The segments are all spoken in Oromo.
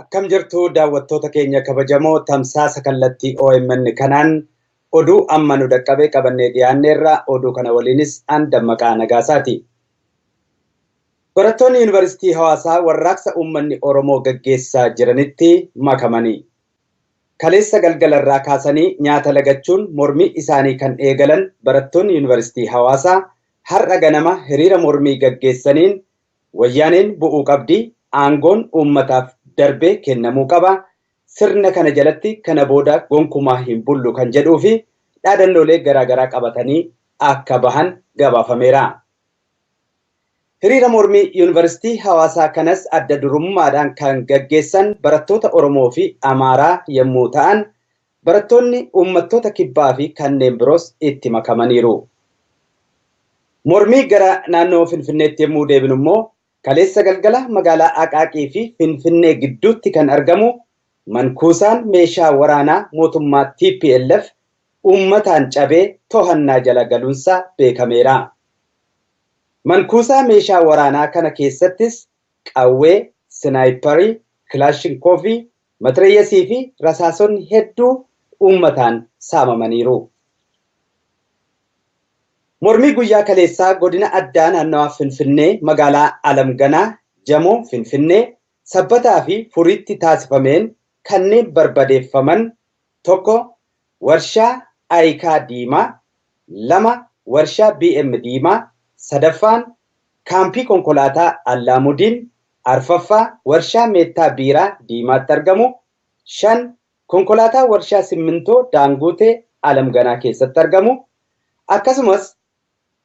Akkam jirtu daawwattoota keenya kabajamoo tamsaasa kallattii OMN kanaan oduu amma nu dhaqqabe qabannee dhiyaanneerra oduu kana waliinis an dammaqaa nagaasaati. Barattoonni Yuunivarsiitii Hawaasaa warraaqsa uummanni Oromoo gaggeessaa jiranitti makamanii kaleessa galgalarraa kaasanii nyaata lagachuun mormii isaanii kan eegalan barattoonni Yuunivarsiitii Hawaasaa har'a ganama hiriira mormii gaggeessaniin Wayyaaneen bu'uu qabdi, aangoon uummataaf darbee kennamuu qaba, sirna kana jalatti kana booda gonkumaa hin bullu kan jedhuu fi dhaadannoolee garaa garaa qabatanii akka bahan gabaafameera. Hiriira mormii Yuunivarsiitii Hawaasaa kanas adda durummaadhaan kan gaggeessan barattoota Oromoo fi Amaaraa yemmuu ta'an, Barattoonni uummattoota kibbaa fi kanneen biroos itti makamaniiru. Mormii gara naannoo Finfinneetti yemmuu deebinu immoo kaleessa galgala magaalaa Aqaaqii fi Finfinnee gidduutti kan argamu mankuusaan meeshaa waraanaa mootummaa tplf uummataan cabee tohannaa jala galuunsaa beekameera. Mankuusaa meeshaa waraanaa kana keessattis qawwee, sinaayipparii, kilaashinkoovii, Matireeyasii fi rasaasonni hedduu uummataan saamamaniiru. Mormii guyyaa kaleessaa Godina Addaa Naannawaa Finfinnee Magaalaa Alam Ganaa, Jamoo, Finfinnee, Sabbataa fi Furiitti taasifameen kanneen barbadeeffaman 1. Warshaa Ayikaa Diimaa 2 Warshaa BM Diimaa 3ffaan Kaampii Konkolaataa Allaamudiin 4ffaa Warshaa Meettaa Biiraa Diimaatti argamu 5 Konkolaataa Warshaa Simmintoo Daanguutee Alam Ganaa keessatti argamu akkasumas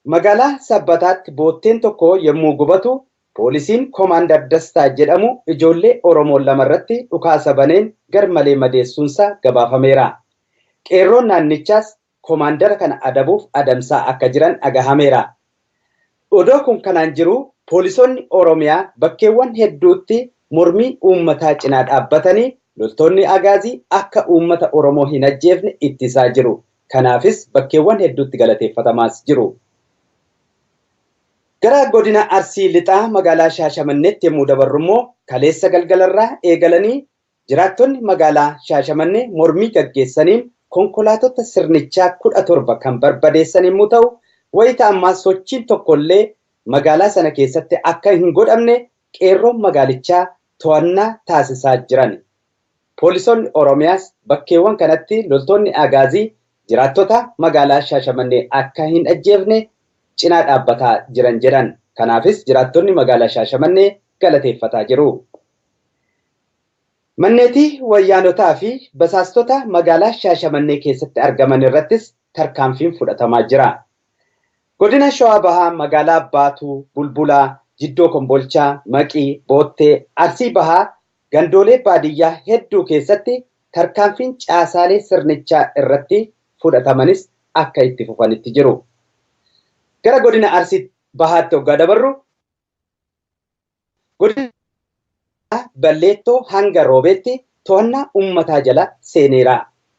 Magaalaa Sabbataatti bootteen tokko yommuu gubatu Poolisiin Komaandar Dastaa jedhamu ijoollee Oromoo lama irratti dhukaasa baneen garmalee madeessuunsaa gabaafameera. Qeerroon naannichaas Komaandara kana adabuuf adamsaa akka jiran dhagahameera. Odoo kun kanaan jiruu poolisoonni Oromiyaa bakkeewwan hedduutti mormii uummataa cinaa dhaabbatanii loltoonni Agaazii akka uummata Oromoo hin ajjeefne ittisaa jiru. Kanaafis bakkeewwan hedduutti galateeffatamaas jiru. Gara Godina Arsii Lixaa magaalaa Shaashamanneetti yemmuu dabarrummoo kaleessa galgalarraa eegalanii jiraattonni magaalaa Shaashamannee mormii gaggeessaniin konkolaatotta sirnichaa 17 kan barbadeessan yemmuu ta'u, wayita ammaa sochiin tokkollee magaalaa sana keessatti akka hin godhamne qeerroon magaalichaa to'annaa taasisaa jirani. Poolisoonni Oromiyaas bakkeewwan kanatti loltoonni Agaazii jiraattota magaalaa Shaashamannee akka hin ajjeefne cinaa dhaabbataa jiran jedhan. Kanaafis jiraattonni magaalaa Shaashamannee galateeffataa jiru. Manneetii Wayyaanotaa fi basaastota magaalaa Shaashamannee keessatti argaman irrattis tarkaanfiin fudhatamaa jira. Godina Shawaa Bahaa magaalaa Baatuu, Bulbulaa, Jiddoo Kombolchaa, Maqii, Boottee, Arsii Bahaa gandoolee baadiyyaa hedduu keessatti tarkaanfiin caasaalee sirnichaa irratti fudhatamanis akka itti fufanitti jiru. Gara godina Arsii bahaatti oggaa dabarru godina Balleettoo hanga Roobeetti to'annaa ummataa jala seeneera.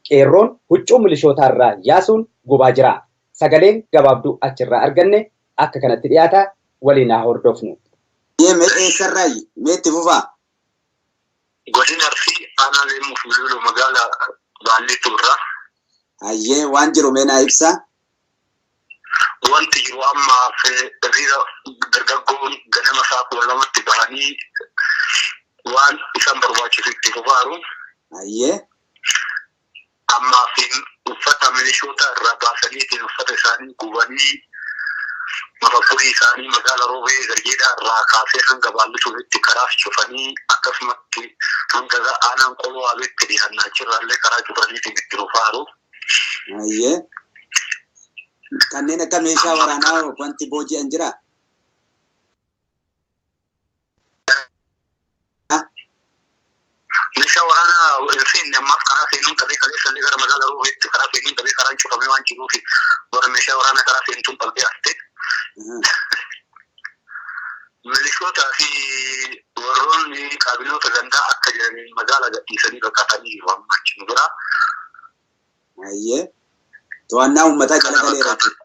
Qeerroon huccuu milishootaa irraa yaasuun gubaa jira. Sagaleen gabaabduu achirraa arganne akka kanatti dhiyaata waliin haa hordofnu. Eeyyee mee eessarraayi? Mee itti fufaa. Godina Arsii Aanaa Leemmuu fi Luuluu Magaala Baalliitti jirra. Hayyee waan jiru mee naa ibsaa. Wanti jiru amma hiriira dargaggoon ganama sa'a 12tti bahanii waan isaan barbaachisu itti fufaaru. Hayyee. Hammaafiin uffata milishoota irraa baasaniitiin uffata isaanii gubanii mafakkurii isaanii magaala Roobee Garjeedhaa irraa kaasee hanga Baallisuufitti karaas cufanii akkasumatti hanga ga aanaan Qolo Waabeetti dhiyaanna achirraallee karaa cufaniitiin itti fufaaru. Hayyee. Kanneen akka meeshaa waraanaa wanti booji'an jiraa? Meeshaa waraanaa hin seenne ammaaf karaa seenuun qabee kaleessa illee gara magaala Roobeetti karaa seenuun qabee karaan cufamee waan jiruuf warra meeshaa waraanaa karaa seentuun qabdee haftee. Milishootaa fi warroonni kaabinoota gandaa akka jiraniin magaala gadhiisanii baqatanii jiru amma achi nu biraa. Ayyee. To'annaa uummataa jala galeera jechuudha.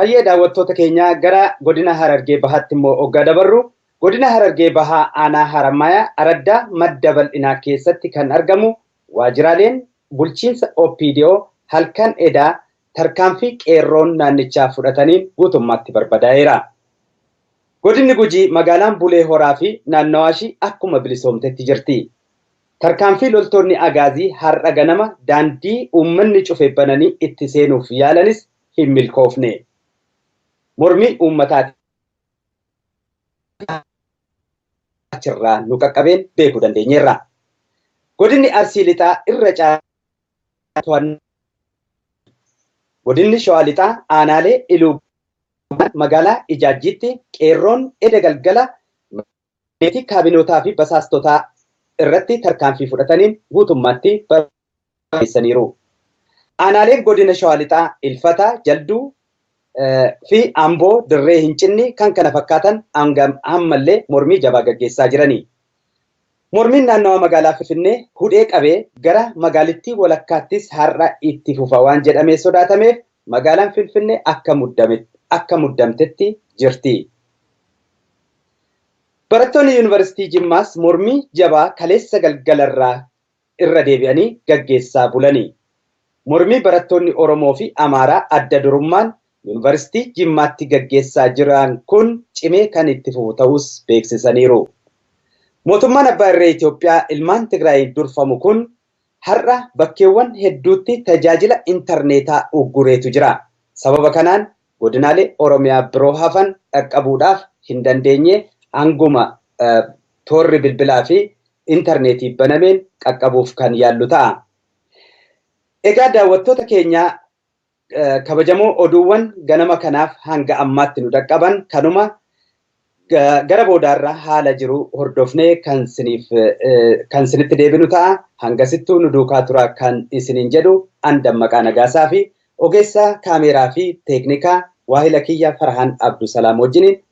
Hayyee daawwattoota keenya gara godina Harargee Bahaatti immoo oggaa dabarru godina Harargee Bahaa aanaa Harammayaa araddaa madda bal'inaa keessatti kan argamu waajjiraaleen bulchiinsa OPDO halkan edaa tarkaanfii qeerroon naannichaa fudhataniin guutummaatti barbadaa'eera. Godinni Gujii magaalaan Bulee Horaa fi naannawaashii akkuma bilisoomtetti jirti. Tarkaanfii loltoonni Agaazii har'a ganama daandii uummanni cufe bananii itti seenuuf yaalanis hin milkoofne. Mormii uummataatiin haala achirraa nu qaqqabeen beekuu dandeenyeerra. Godinni Arsii Lixaa irra caalaa to'annaa jala ooleera. Godinni Shawaa Lixaa aanaalee Iluu Gannaa magaalaa Ijaajjiitti qeerroon eda galgala magaalaa fi kaabinootaa fi basaastotaa irratti tarkaanfii fudhataniin guutummaatti barbadeessaniiru. Aanaaleen Godina Shawaa Lixaa Ilfata, Jalduu, fi Amboo Dirree Hincinni kkf hanga ammallee mormii jabaa gaggeessaa jirani. Mormiin naannawaa magaalaa Finfinnee hudhee qabee gara magaalittii walakkaattis har'a itti fufa waan jedhamee sodaatameef magaalaan Finfinnee akka muddamtetti jirti. Barattoonni Yuunivarsiitii Jimmaas mormii jabaa kaleessa galgalarraa irra deebi'anii gaggeessaa bulani. Mormii barattoonni Oromoo fi Amaaraa adda durummaan Yuunivarsiitii Jimmaatti gaggeessaa jiran kun cimee kan itti fufu ta'uus beeksisaniiru. Mootummaan abbaa irree Itoophiyaa ilmaan Tigraayiin durfamu kun Har'a bakkeewwan hedduutti tajaajila intarneetaa uggureetu jira. Sababa kanaan godinaalee Oromiyaa biroo hafan dhaqqabuudhaaf hin dandeenye hanguma toorri bilbilaa fi intarneetii banameen qaqqabuuf kan yaallu ta'a. Egaa daawwattoota keenyaa Kabajamoo oduuwwan ganama kanaaf hanga ammaatti nu dhaqqaban kanuma gara boodaarra haala jiru hordofnee kan siniif kan sinitti deebinu ta'a hangasittuu nu duukaa tura kan isiniin jedhu an dammaqaa nagaasaa fi ogeessa kaameeraa fi teeknikaa waahila kiyya Farahaan Abdusalaam wajjiniin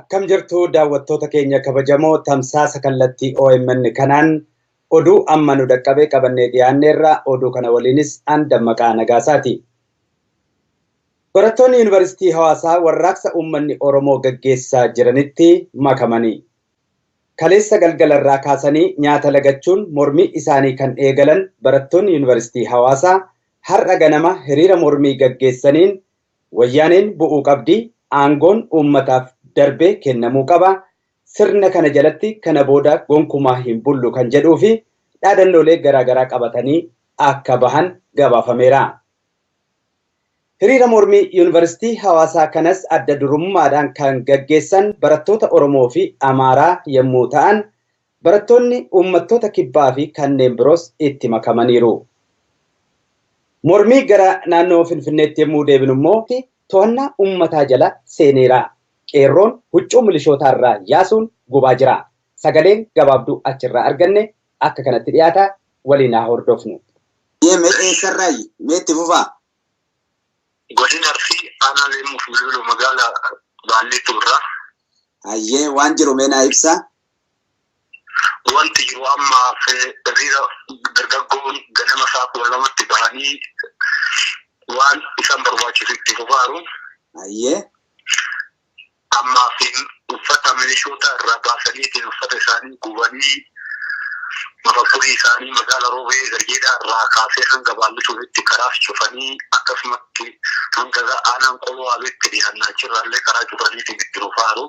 Akkam jirtu daawwattoota keenya kabajamoo tamsaasa kallattii OMN kanaan oduu amma nu dhaqqabe qabannee dhiyaanneerra oduu kana waliinis an dammaqaa nagaasaati. Barattoonni Yuunivarsiitii Hawaasaa warraaqsa uummanni Oromoo gaggeessaa jiranitti makamanii kaleessa galgalarraa kaasanii nyaata lagachuun mormii isaanii kan eegalan barattoonni Yuunivarsiitii Hawaasaa har'a ganama hiriira mormii gaggeessaniin Wayyaaneen bu'uu qabdi, aangoon uummataaf darbee kennamuu qaba, sirna kana jalatti kana booda gonkumaa hin bullu kan jedhuu fi dhaadannoolee garaa garaa qabatanii akka bahan gabaafameera. Hiriira mormii Yuunivarsiitii Hawaasaa kanas adda durummaadhaan kan gaggeessan barattoota Oromoo fi Amaaraa yemmuu ta'an, Barattoonni uummattoota kibbaa fi kanneen biroos itti makamaniiru. Mormii gara naannoo Finfinneetti yemmuu deebinu immoo tohannaa uummataa jala seeneera. Qeerroon huccuu milishootaa irraa yaasuun gubaa jira. Sagaleen gabaabduu achirraa arganne akka kanatti dhiyaata waliin haa hordofnu. Eeyyee mee eessarraayi? Mee itti fufaa. Godina Arsii Aanaa Leemmuuf Bilbiloo Magaalaa Baalliittuu irraa. Hayyee waan jiru mee naa ibsaa. Wanti jiru ammaaf hiriira dargaggoon ganama isaa kudha lamatti bahanii waan isaan barbaachisu itti fufaaru. Hayyee. Ammaaf uffata milishoota irraa baasaniitiin uffata isaanii gubanii mafakkurii isaanii magaala Roobee Garjeedhaa irraa kaasee hanga Baallisuufitti karaas cufanii akkasumatti hanga aanaan Qoloo Waabeetti dhiyaanna achirraallee karaa cufaniitiin itti fufaaru.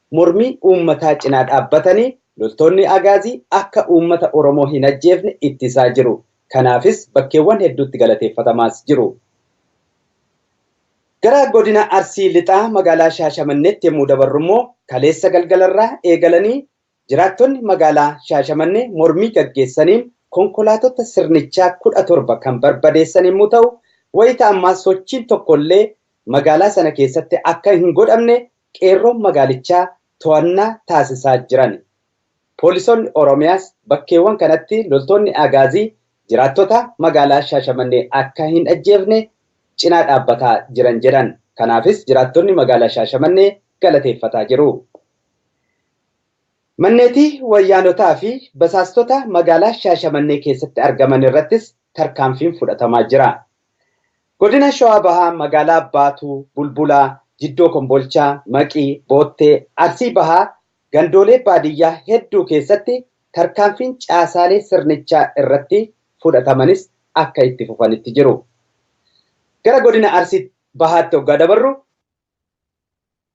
Mormii uummataa cinaa dhaabbatanii loltoonni Agaazii akka uummata Oromoo hin ajjeefne ittisaa jiru. Kanaafis bakkeewwan hedduutti galateeffatamaas jiru. Gara godina Arsii Lixaa magaalaa Shaashamanneetti yemmuu dabarrummoo kaleessa galgalarraa eegalanii jiraattonni magaalaa Shaashamannee mormii gaggeessaniin konkolaatotta sirnichaa 17 kan barbadeessan yemmuu ta'u, wayita ammaa sochiin tokkollee magaalaa sana keessatti akka hin godhamne Qeerroon magaalichaa to'annaa taasisaa jirani. Poolisoonni Oromiyaas bakkeewwan kanatti loltoonni Agaazii jiraattota magaalaa Shaashamannee akka hin ajjeefne cinaa dhaabbataa jiran jedhan. Kanaafis jiraattonni magaalaa Shaashamannee galateeffataa jiru. Manneetii Wayyaanotaa fi basaastota magaalaa Shaashamannee keessatti argaman irrattis tarkaanfiin fudhatamaa jira. Godina Shawaa Bahaa magaalaa Baatuu, Bulbulaa, Jiddoo Kombolchaa, Maqii, Boottee, Arsii Bahaa gandoolee baadiyyaa hedduu keessatti tarkaanfiin caasaalee sirnichaa irratti fudhatamanis akka itti fufanitti jiru. Gara godina Arsii Bahaatti oggaa dabarru,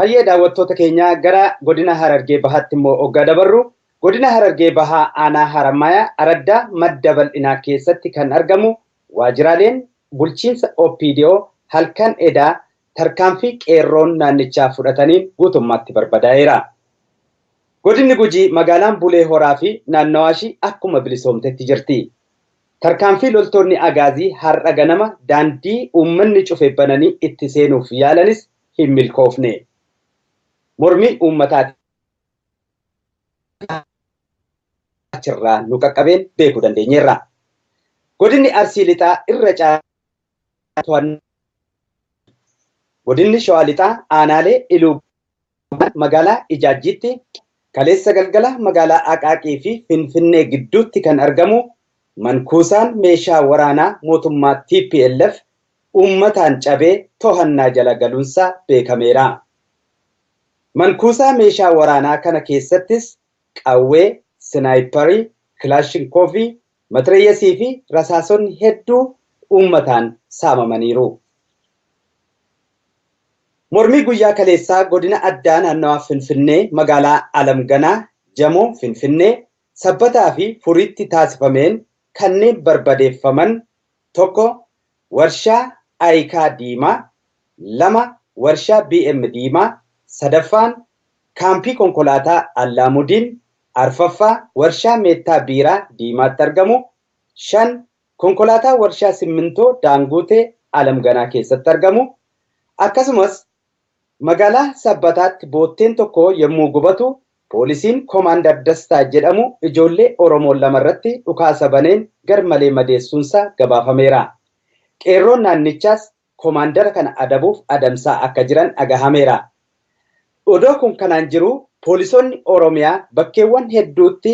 Hayyee daawwattoota keenya gara godina Harargee Bahaatti immoo oggaa dabarru godina Harargee Bahaa aanaa Harammayaa araddaa madda bal'inaa keessatti kan argamu waajjiraaleen bulchiinsa OPDO halkan edaa tarkaanfii qeerroon naannichaa fudhataniin guutummaatti barbadaa'eera. Godinni Gujii magaalaan Bulee Horaa fi naannawaashii akkuma bilisoomtetti jirti. Tarkaanfii loltoonni Agaazii har'a ganama daandii uummanni cufe bananii itti seenuuf yaalanis hin milkoofne. Mormii uummataatiin haala achirraa nu qaqqabeen beekuu dandeenyeerra. Godinni Arsii Lixaa irra caalaa to'annaa jala ooleera. Godinni Shawaa Lixaa aanaalee Iluu Magaalaa Ijaajjiitti kaleessa galgala magaalaa Aqaaqii fi Finfinnee gidduutti kan argamu man-kuusaan meeshaa waraanaa mootummaa tplf uummataan cabee tohannaa jala galuunsaa beekameera. Man-kuusaa meeshaa waraanaa kana keessattis qawwee, sinaayipparii, kilaashinkoovii, matireeyasii fi rasaasonni hedduu uummataan saamamaniiru. Mormii guyyaa kaleessaa Godina Addaa Naannawaa Finfinnee Magaalaa Alam Ganaa, Jamoo, Finfinnee, Sabbataa fi Furiitti taasifameen kanneen barbadeeffaman 1 Warshaa Ayikaa Diimaa 2 Warshaa BM Diimaa 3ffaan Kaampii Konkolaataa Allaamudiin 4ffaa Warshaa Meettaa Biiraa Diimaatti argamu 5 Konkolaataa Warshaa Simmintoo Daangootee Alam Ganaa keessatti argamu, akkasumas Magaalaa Sabbataatti bootteen tokko yemmuu gubatu poolisiin Komaandar Dastaa jedhamu ijoollee Oromoo lama irratti dhukaasa baneen garmalee madeessuunsaa gabaafameera. Qeerroon naannichaas Komaandara kana adabuuf adamsaa akka jiran dhagahameera. Odoo kun kanaan jiruu poolisoonni Oromiyaa bakkeewwan hedduutti